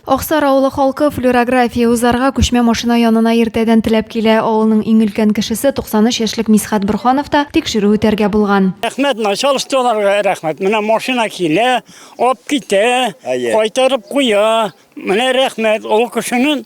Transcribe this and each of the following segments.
Аксар авылы халкы флюорография узарга күчмә машина янына иртәдән теләп килә. Авылның иң өлкән кешесе, 93 яшьлек Мисхәт Борханов та тикшерү үтәргә булган. Рәхмәт началстволарга рәхмәт. Менә машина килә, алып китә, кайтарып куя. Менә рәхмәт, ул кешенең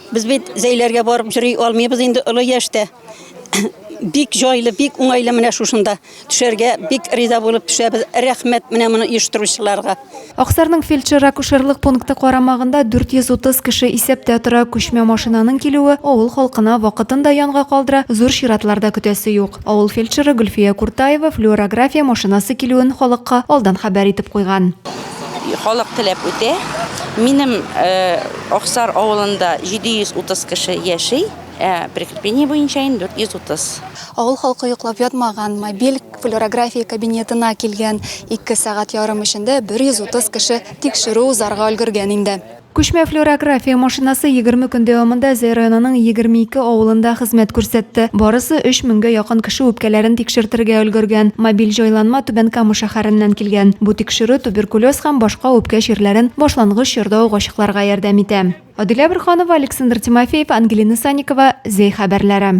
Без бит зәйләргә барып йөри алмыйбыз инде олы яшьтә. Бик җайлы, бик уңайлы менә шушында төшәргә бик риза булып төшәбез. Рәхмәт менә моны оештыручыларга. Аксарның фельдшер-акушерлык пункты карамагында 430 кеше исәптә тора. Күчмә машинаның килүе авыл халкына вакытын да янга калдыра, зур чиратлар да көтәсе юк. Авыл фельдшеры Гөлфия Куртаева флюорография машинасы килүен халыкка алдан хәбәр итеп куйган. Халык теләп үтә. Минем Аксар авылында 730 кеше яши, ә прикрепление буенча инде 430. Авыл халкы йоклап ятмаганмы, бел, флюорография кабинетына килгән. Ике сәгать ярым эчендә 130 кеше тикшерү узарга өлгергән инде. Күчмә флюорография машинасы егерме көн дәвамында Зәй районының егерме ике авылында хезмәт күрсәтте. Барысы өч меңгә якын кеше үпкәләрен тикшертергә өлгергән. Мобиль җайланма Түбән Кама шәһәреннән килгән. Бу тикшерү туберкулез һәм башка үпкә чирләрен башлангыч чорда ук ачыкларга ярдәм итә. Адилә Борһанова, Александр Тимофеев, Ангелина Санникова, Зәй хәбәрләре.